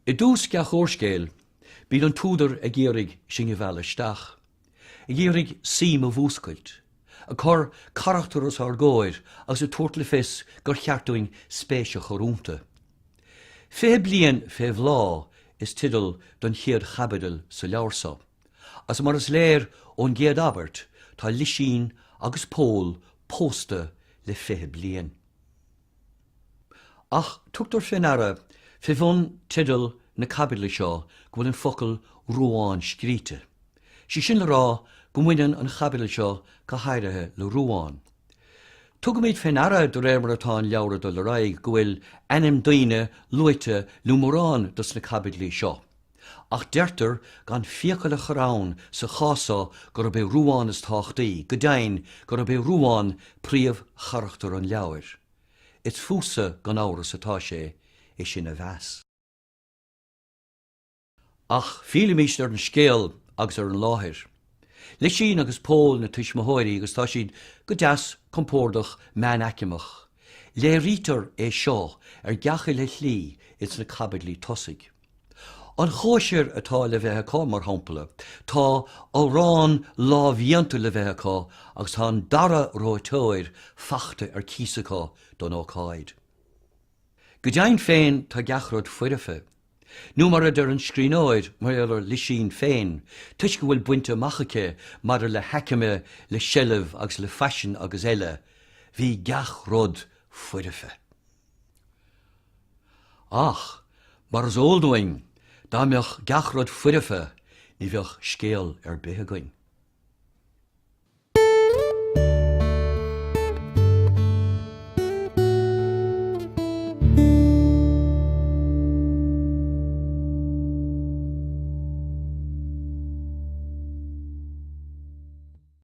I dtús gach úrscéil, bíonn an t-údar ag iarraidh sinn a mhealladh isteach, ag iarraidh suim a mhúscailt, ag cur carachtar os ár gcomhair agus ag tabhairt le fios gur cheart dúinn spéis a chur iontu. Fiche Bliain fé Bhláth is teideal don chéad chaibidil sa leabhar seo. agus mar is léir ón gcéad abairt, tá Lisín agus Pól pósta le fiche bliain. Ach tugtar fé ndeara fé bhun teideal na caibidle seo go bhfuil an focal 'Ruán' scríte, sé sin le rá go mbaineann an chaibidil seo go háirithe le Ruán. Tugaimid fé ndeara de réir mar atá an leabhar ag dul ar aghaidh go bhfuil ainm daoine luaite le mórán dos na caibidlí seo. Ach deirtear gan fiacail a chur ann sa chás so gurb é Ruán is tábhachtaí, go deimhin, gurb é Ruán príomhcharachtar an leabhair. Is fútsa gan amhras atá sé é sin a mheas. Ach fillimis ar an scéal agus ar an láthair. Lisín agus Pól na tuismitheoirí agus tá siad go deas compordach meánaicmeach. Léirítear é seo ar gach uile shlí ins na caibidlí tosaigh. An chóisir atá le bheith acu, mar shampla, tá arán lámhdhéanta le bheith acu agus tá an dara reoiteoir fachta ar cíos acu don ócáid. Go deimhin féin, tá gach rud foirfe, nó mar a deir an scríbhneoir mar gheall ar Lisín féin, toisc a bhfuil bainte amach aici maidir le haicme, le seilbh agus le faisean agus eile, bhí gach rud foirfe. Ach, mar is eol dúinn, dá mbeadh gach rud foirfe, ní bheadh scéal ar bith againn.